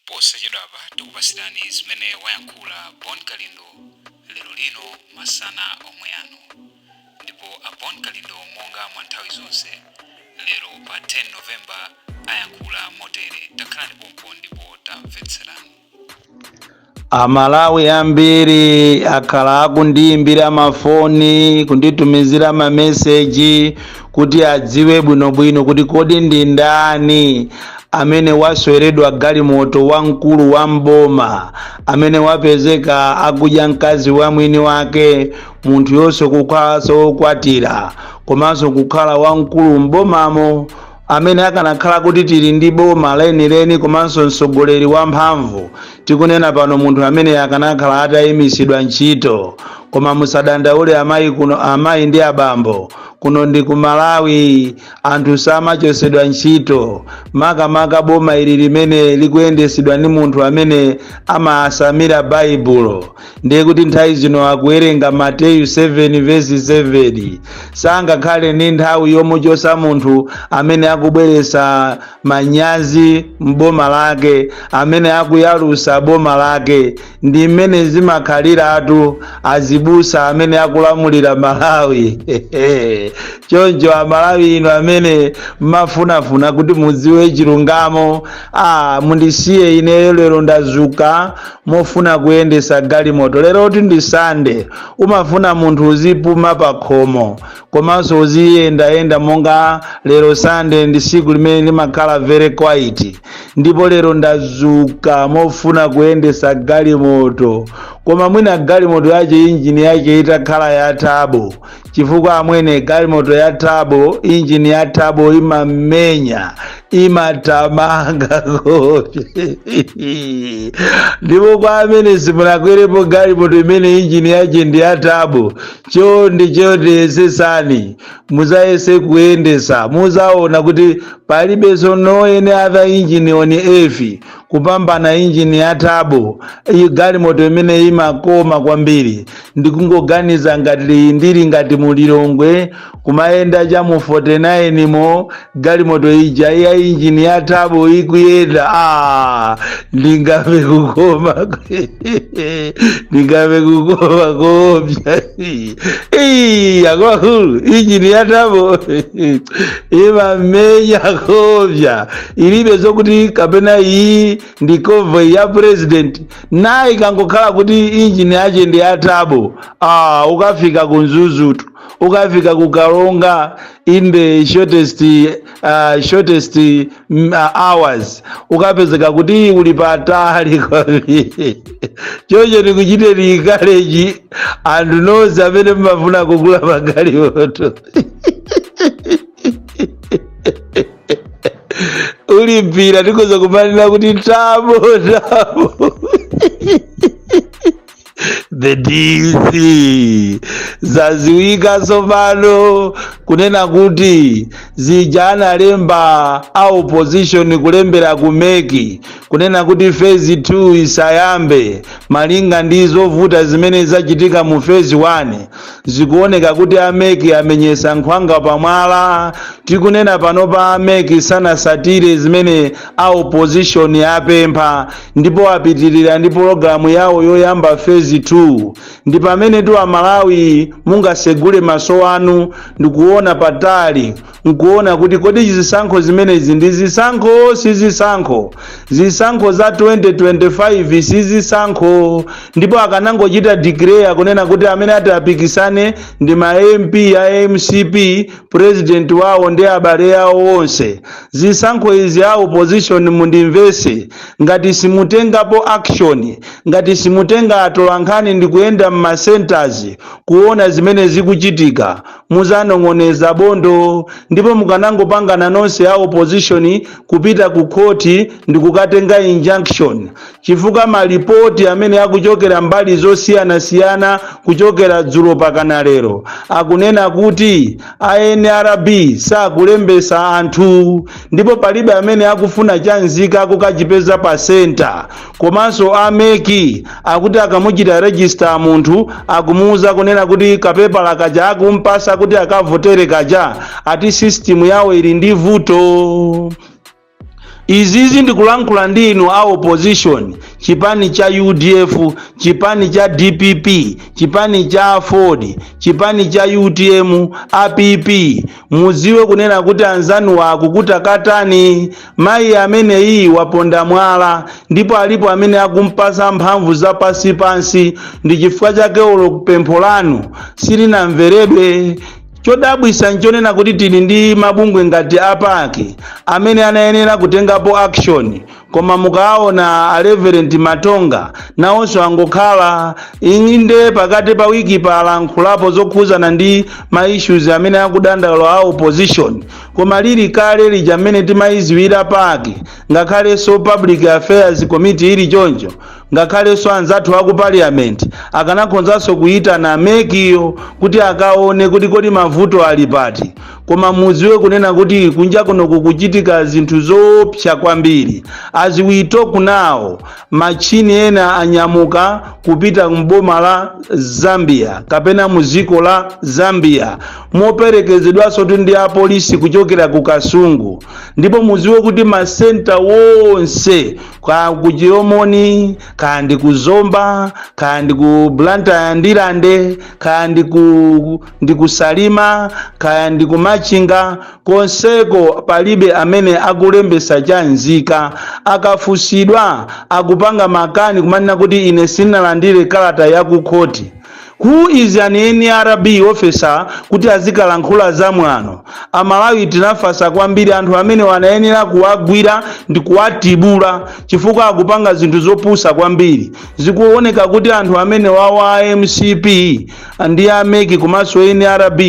Posachedwapa tikupatsirani zimene wayankhula Bon Kalindo lero lino masana omwe ano. Ndipo a Bon Kalindo monga mwa nthawi zonse, lero pa 10 November ayankhula motere, takhalani pompo ndipo tamvetserani. amalawi ambiri akhala akundiyimbira mafoni kunditumizira mameseji kuti adziwe bwinobwino kuti kodi ndi ndani amene wasweredwa galimoto wamkulu wa m'boma amene wapezeka akudya mkazi wa mwini wake munthu yonse kukhalanso wokwatira komanso kukhala wamkulu mbomamo amene akanakhala kuti tili ndi boma lenileni komanso mtsogoleri wamphamvu tikunena pano munthu ameneyu akanakhala atayimitsidwa ntchito koma musadandaule amayi kuno amayi ndi abambo kuno ndi ku malawi anthu samachotsedwa ntchito makamaka boma ili limene likuyendesedwa ndi munthu amene amatsamira baibulo ndiye kuti nthawi zino akuwerenga mateyu 7 vesi 7 sangakhale ndi nthawi yomuchosa munthu amene akubweresa manyazi m'boma lake amene akuyalusa boma lake ndi mmene zimakhaliratu azibusa amene akulamulira malawi choncho amalawi inu amene mmafunafuna kuti mudziwe chilungamo ah, mundisiye ineyo lero ndazuka mofuna kuyendesa galimoto lerotu ndi sunday umafuna munthu uzipuma pakhomo komanso uziyendayenda monga lero sunday ndi siku limene limakhala very quiet ndipo lero ndazuka mofuna kuyendesa galimoto koma mwina galimoto yache injini yache itakhala ya tabo chifukwa amwene galimoto ya tabo injini ya tabo imamenya imatamanga kope ndipo kwa amene simunakwerepo galimoto imene injini yache ndi ya tabo chonde chonde yesesani muzayese kuyendesa muzaona kuti palibenso no any other engine on earth kupambana injini ya tabo ii galimoto imene imakoma kwambiri ndikungoganiza ngati ndili ngati mulilongwe kumayenda cha mu 49 mo galimoto ija ya injini ya tabo ikuyenda ah, ndingamve kukoma ndingamve kukoma koopsa Ii, akuluakulu injini ya tabo imamenya koopsa ilibe zokuti kapena iyi ndi convoy ya president nayo ikangokhala kuti injini yache ndi ya tabo ah, ukafika ku mzuzutu ukafika ku karonga in the shortest, uh, shortest mm, uh, hours ukapezeka kuti uli patali kwambiri choncho ndikuchite encourage anthu nonse amene mmafuna kugula magalimoto uli mpira tikhoza kumanira kuti tabo tabo the dc zaziwika tsopano kunena kuti zija analemba a opposition kulembera kumeki kunena kuti phase 2 isayambe malinga ndi zovuta zimene zachitika mu phase 1 zikuoneka kuti ameki amenyesa nkhwanga pamwala tikunena panopa ameki sanasatire zimene a opposition apempha ndipo apitirira ndi pologalamu yawo yoyamba fezi 2 ndi pamenetu amalawi mungasegule maso anu ndikuona patali nkuona kuti kodi zisankho zimenezi ndi zisankho si zisankho zisankho za 2025 si zisankho ndipo akanangochita declare kunena kuti amene atapikisane ndi ma mp a mcp president wawo ndi abale awo onse zisankho izi a opposition mundimvese ngati simutengapo action ngati simutenga atolankhani ndi kuyenda m'ma centers kuona zimene zikuchitika muzanong'oneza bondo ndipo mukanangopangana nonse a opposition kupita ku khoti ndikukatenga injunction chifukwa malipoti amene akuchokera mbali zosiyanasiyana kuchokera dzulo pakana lero akunena kuti a nrb sakulembesa anthu ndipo palibe amene akufuna cha nzika kukachipeza pa senta komanso a mec akuti akamuchita register munthu akumuuza kunena kuti kapepala kaja akumpasa kuti akavotere kaja ati system yawo ili ndi vuto izizi ndikulankhula ndi inu a opposition chipani cha udf chipani cha dpp chipani cha aford chipani cha utm app Mudziwe kunena kuti anzanuwa akukutakatani. Mayi ameneyi waponda mwala ndipo alipo amene akumpatsa mphamvu za pansi pansi ndi chifukwa chake olo pempho lanu silinamveredwe. Chodabwitsa nchonena kuti tili ndi mabungwe ngati a pac amene anayenera kutengapo action koma mukaona a reverend matonga nawonso angokhala inde pakati pa wiki palankhulapo zokhuzana ndi ma issues amene akudandaula a opposition koma lili kale lija mmene timayiziwira PAC ngakhalenso public affairs committee ili choncho ngakhalenso anzathu aku parliament akanakhonzanso kuyitana mec-yo kuti akaone kuti kodi mavuto ali pati koma muziwe kunena kuti kunja kuno kukuchitika zinthu zoopsa kwambiri as we talk now machini ena anyamuka kupita mboma la zambia kapena muziko la zambia moperekezedwanso tu ndi apolisi kuchokera ku kasungu ndipo muziwe kuti masenta wonse ku chilomoni kaya ndi ku zomba kaya ndi ku blantyre ndirande kaya ndi ku ndi kusalima kaya ndi kumachinga konseko palibe amene akulembesa cha nzika akafunsidwa akupanga makani kumanena kuti ine sinalandire kalata ya ku khoti who is an nrb officer kuti azikalankhula za mwano amalawi tinafasa kwambiri anthu amenewa anayenera kuwagwira ndi kuwatibula chifukwa akupanga zinthu zopusa kwambiri zikuoneka kuti anthu amenewawa a mcp ndi a mec komanso nrb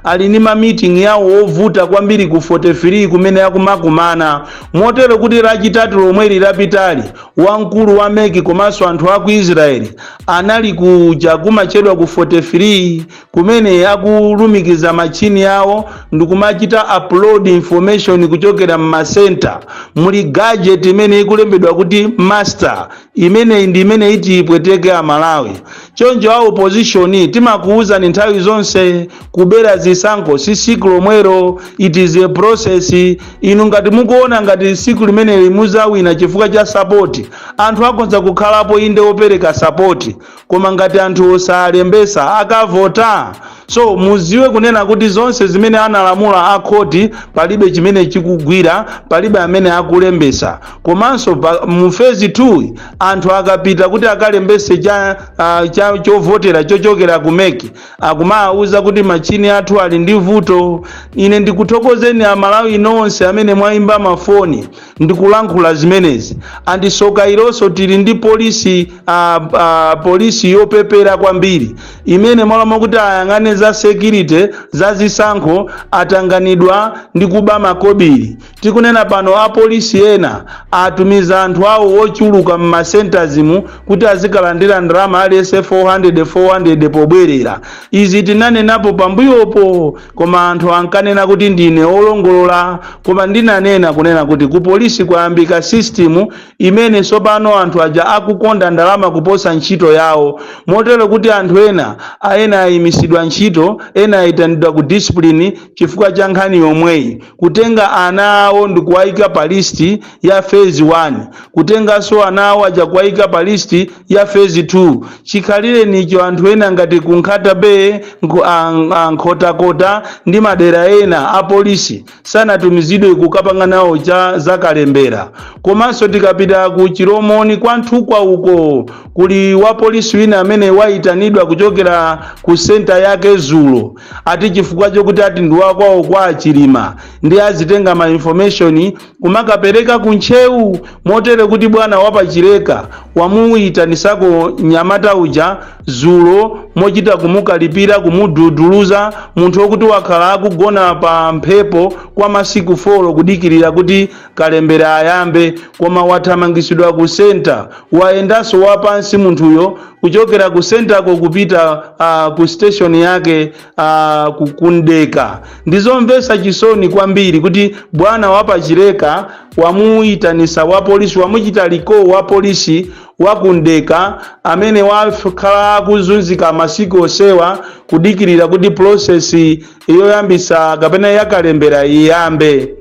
ali ndi ma meeting yawo ovuta kwambiri ku 43 kumene akumakumana motero kuti lachitatu lomweli lapitali wamkulu wa mec komanso anthu a ku israeli anali kuja kumachedwa ku 43 kumene akulumikiza machini awo ndikumachita upload information kuchokera m'masenta muli gadget imene ikulembedwa kuti master imeneyi ndi imene iti ipweteke amalawi choncho a opposition timakuwuzani nthawi zonse kubera zisankho si siku lomwero it is a process inu ngati mukuona ngati siku limeneli muzawina chifukwa cha sapoti anthu akhonza kukhalapo inde opereka sapoti koma ngati anthu osalembesa akavota so muziwe kunena kuti zonse zimene analamula akhoti palibe chimene chikugwira palibe amene akulembesa komanso mu phase 2 anthu akapita kuti akalembese chovotera chochokera ku mec akumawauza kuti machini athu ali ndi vuto ine ndikuthokozeni amalawi nonse amene mwayimba mafoni ndikulankhula zimenezi and soka ilonso tili ndi polisi polisi yopepera kwambiri imene mmalo mwakuti ayang'ane za security za zisankho atanganidwa ndi kuba makobiri tikunena pano apolisi ena atumiza anthu awo ochuluka mmasentazi mu kuti azikalandira ndalama aliyense 400 pobwerera izi tinanenapo pambuyopo Koma anthu ankanena kuti ndine olongolola koma ndinanena kunena kuti ku polisi kwayambika system imene tsopano anthu aja akukonda ndalama kuposa ntchito yawo motero kuti anthu ena a ena ayimisidwa ntchito ena ayitanidwa ku discipline chifukwa cha nkhani yomweyi kutenga ana awo ndikuwaika pa list ya phase 1 kutenganso ana awo aja kuwaika pa list ya phase 2 chikhalirenicho anthu ena ngati ku Nkhata Bay nku- a- a- Nkhotakota ndi madera ena a polisi sanatumizidwe kukapanga nawo cha zakalembera komanso tikapita ku Chilomoni kwa Nthukwa uko kuli wapolisi wina amene wayitanidwa kuchokera ku senta yake dzulo ati chifukwa chokuti ati ndi wakwawo kwa a Chilima ndi azitenga ma information kumakapereka ku Ntcheu motere kuti bwana wa pa Chileka wamuyitanisako nyamata uja dzulo mochita kumukalipira kumududuluza munthu wokuti wakhala akugona pa mphepo kwa masiku folo kudikirira kuti kalembera ayambe koma wathamangisidwa ku center wayendanso wapansi munthuyo kuchokera ku centerko kupita uh, ku station yake uh, ku Mdeka ndizomvesa chisoni kwambiri kuti bwana wa pa Chileka wamuyitanisa wapolisi wamuchita recall wapolisi wa ku Mdeka amene wakhala akuzunzika masiku onsewa kudikirira kuti process yoyambisa kapena yakalembera iyambe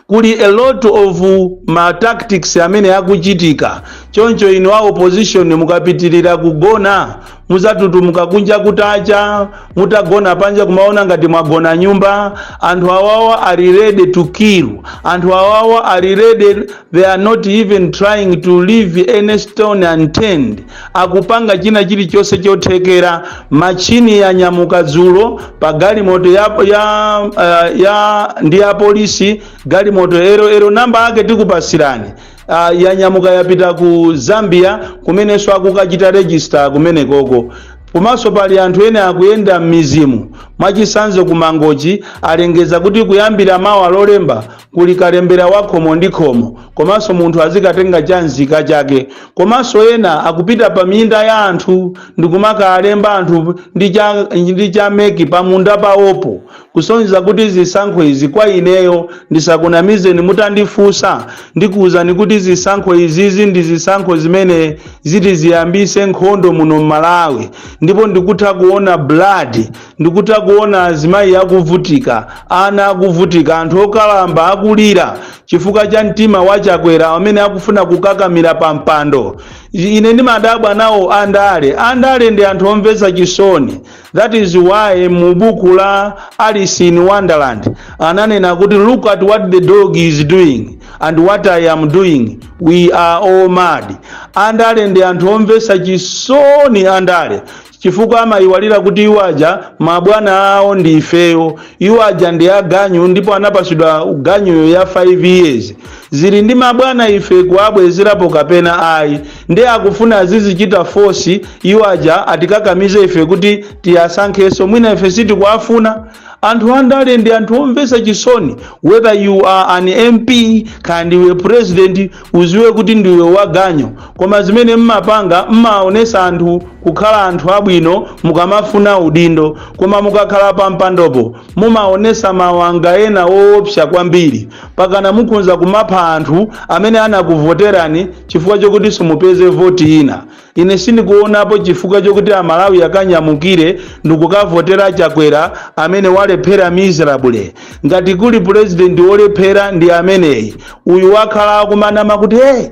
kuli a lot of ma tactics amene akuchitika choncho inu a opposition mukapitirira kugona mudzatutumuka kunja kutacha mutagona panja kumaona ngati mwagona m'nyumba anthu awawa are ready to kill anthu awawa are ready they are not even trying to leave any stone unturned akupanga china chilichonse chothekera machini yanyamuka dzulo pa galimoto ya, ya, uh, ya ndi ya polisi galimoto ero ero namba ake tikupasirani uh, yanyamuka yapita ku Zambia kumenenso akukachita register kumenekoko komanso pali anthu ena akuyenda m'mizimu mwachitsanzo ku Mangochi alengeza kuti kuyambira mawa lolemba kuli kalembera wa khomo ndi khomo komanso munthu azikatenga cha nzika chake komanso ena akupita pa minda ya anthu ndikumakalemba anthu ndi cha, ndi cha MEC pa munda pawopo kusonyeza kuti zisankho izi kwa ineyo ndisakunamizeni mutandifunsa ndikuwuzani kuti zisankho izizi ndi zisankho zimene ziti ziyambise nkhondo muno m'Malawi ndipo ndikutha kuona blood ndikutha kuona azimayi akuvutika ana akuvutika anthu okalamba akulira chifukwa cha mtima wa chakwera amene akufuna kukakamira pa mpando ine ndimadabwa nawo andale andale ndi anthu omvetsa chisoni that is why mu buku la alice in wonderland ananena kuti look at what the dog is doing and what i am doing we are all mad andale ndi anthu omvetsa chisoni andale chifukwa amayiwalira kuti iwo aja mabwana awo ndi ifeyo iwo aja ndi aganyu ndipo anapasidwa ganyuyo ya 5 years zili ndi mabwana ife kuwabwezerapo kapena ayi ndi akufuna azizichita force iwo aja atikakamize ife kuti tiwasankheso mwina ife sitikuwafuna anthu andale ndi anthu omvesa chisoni whether you are an mp kaya ndiwe president uziwe kuti ndiwe waganyu koma zimene mmapanga mmaonesa anthu kukhala anthu abwino mukamafuna udindo koma mukakhala pa mpandopo mumaonesa mawanga ena woopsa kwambiri pakana mukhonza kumapha anthu amene anakuvoterani chifukwa chokuti simupeze voti ina ine sindikuonapo chifukwa chokuti amalawi akanyamukire ndikukavotera chakwera amene walephera miserably ngati kuli purezidenti wolephera ndi ameneyi uyu wakhala akumanama kuti hey,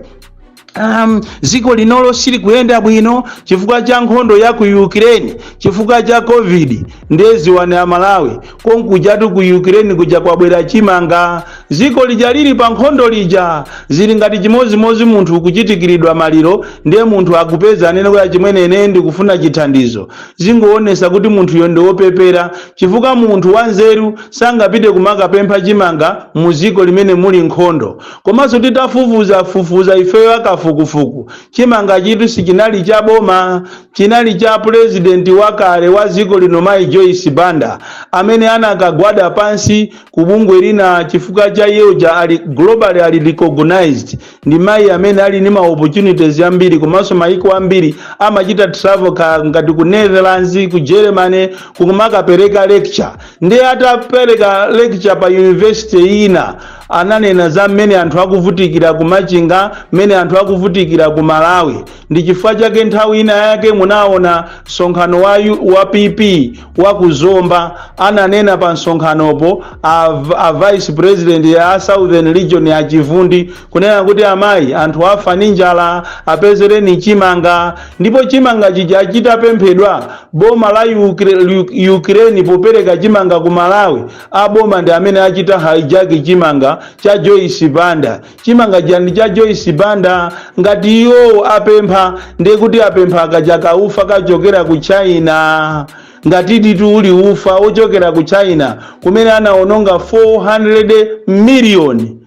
dziko linolo silikuyenda bwino chifukwa cha nkhondo ya ku ukraine chifukwa cha covid ndiye ziwani amalawi konkujatu ku ukraine kuja kwabwera chimanga ziko lija lili pa nkhondo lija zili ngati chimozimozi munthu kuchitikiridwa maliro ndiye munthu akupeza anene kuti achimwene ine ndikufuna chithandizo zingoonesa kuti munthuyo ndi wopepera chifukwa munthu wanzeru sangapite kumakapempha chimanga mu ziko limene muli nkhondo komanso titafufuza fufuza ifeyo akafukufuku chimanga chitu sichinali cha boma chinali cha president wakale wa dziko lino mayi Joyce Banda amene anakagwada pansi ku bungwe lina chifukwa cha iye uja ali globally ali recognized ndi mayi amene ali ndi ma opportunities ambiri komanso mayiko ambiri amachita travel ka ngati ku Netherlands ku Germany kumakapereka lecture ndiye atapereka lecture pa university ina ananena za mmene anthu akuvutikira ku Machinga mmene anthu akuvutikira ku Malawi ndi chifukwa chake nthawi ina yake munaona msonkhano wa, yu- wa pp wa ku zomba ananena pa msonkhanopo a, v- a vice president ya southern region a chivundi kunena kuti amayi anthu afa ndi njala apezereni chimanga ndipo chimanga chija chitapemphedwa boma la Ukra- Uk- ukraine popereka chimanga ku malawi a boma ndi amene achita hijack chimanga cha joyce banda chimanga chija ndi cha joyce banda ngati iwowo apempha ndiye kuti apempha akaja ka ufa kachokera ku china ngati ditu uli ufa wochokera ku china kumene anaononga 400 miliyoni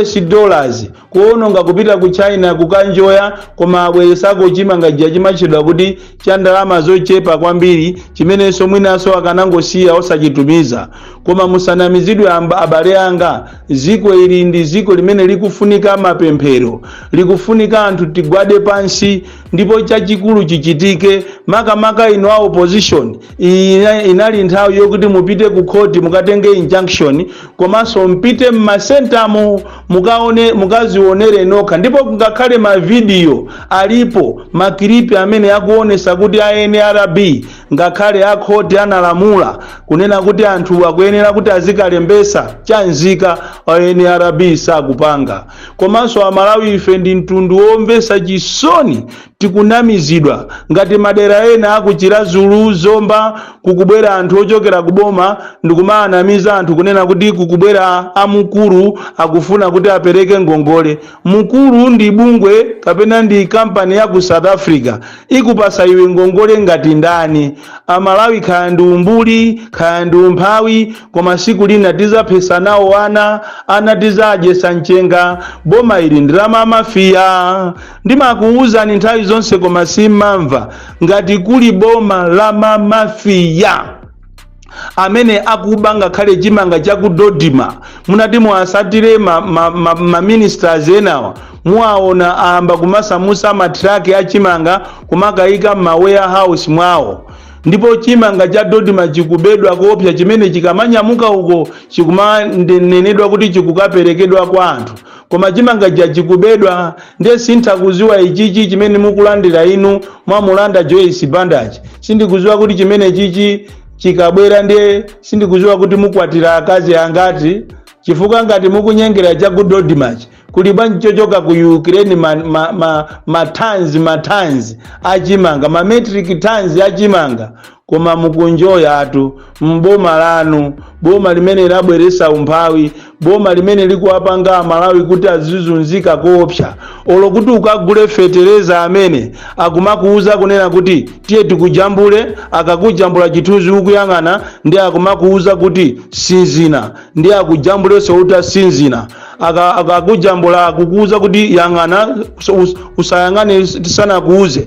us dollars kuononga kupita ku china kukanjoya koma abweresako chimanga chija chimatchedwa kuti cha ndalama zochepa kwambiri chimenenso mwinanso akanangosiya osachitumiza koma musanamizidwe amba- abale anga Dziko ili ndi dziko limene likufunika mapemphero, likufunika anthu tigwade pansi ndipo chachikulu chichitike, makamaka inu a opposition, iyi ina- inali nthawi yokuti mupite ku khoti mukatenge injunction komanso mpite m'masentamo mukaone- mukazionere nokha ndipo kungakhale mavidiyo alipo makilipi amene akuonesa kuti a nrb Ngakhale a khoti analamula kunena kuti anthuwa akuyenera kuti azikalembesa cha nzika a nrb sakupanga. Komanso a Malawi ife ndi mtundu womvesa chisoni tikunamizidwa ngati madera ena aku Chiradzulu, Zomba kukubwera anthu ochokera ku boma ndikumaanamiza anthu kunena kuti kukubwera a Mukuru akufuna kuti apereke ngongole. Mukuru ndi bungwe kapena ndi company ya ku South Africa ikupasa iwe ngongole ngati ndani? A Malawi kaya ndi umbuli, kaya ndi umphawi koma siku lina tizaphesa nawo ana, ana tizadyesa mchenga. Boma ili ndi la ma mafia. Ndimakuwuzani nthawi zonse koma simmamva ngati kuli boma la ma mafia. amene akuba ngakhale chimanga cha ku dodma munati muwasatire ma, ma, ma, ma ministers enawa muwaona ayamba kumasamusa matraki a chimanga kumakayika mma warehouse mwawo ndipo chimanga cha dodma chikubedwa koopsa chimene chikamanyamuka uko chikumanenedwa kuti chikukaperekedwa kwa anthu koma chimanga chija chikubedwa ndiye sintha kuziwa ichichi chimene mukulandira inu mwamulanda joyce bandachi sindikuziwa kuti chimene chichi chikabwera ndiye sindikuziwa kuti mukwatira akazi angati chifukwa ngati mukunyengera cha ku dodmachi kuli bwanji chochoka ku ukraine mathanzi ma, ma, ma mathanzi achimanga mametric thanzi achimanga koma mukunjoyatu m'boma lanu boma limene labweresa umphawi boma limene likuwapanga amalawi kuti azizunzika koopsa olo kuti ukagule fetereza amene akumakuuza kunena kuti tiye tikujambule akakujambula chithunzi ukuyang'ana ndiye akumakuuza kuti sinzina ndiye akujambulenso utasinzina Aka- akakujambula akukuuza kuti yang'ana us- usayang'ane tisanakuuze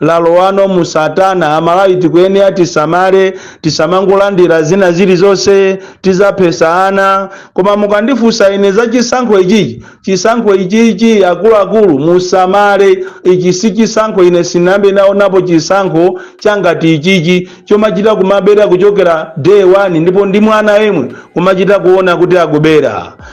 lalowano mu satana amalawi tikuyenera tisamale tisamangolandira zina zilizonse tizaphesa ana koma mukandifunsa ine za chisankho ichichi chisankho ichichi akuluakulu musamale ichi si chisankho ine sinambe naonapo chisankho changati ichichi chomachita kumabera kuchokera day one ndipo ndi mwana yemwe kumachita kuona kuti akubera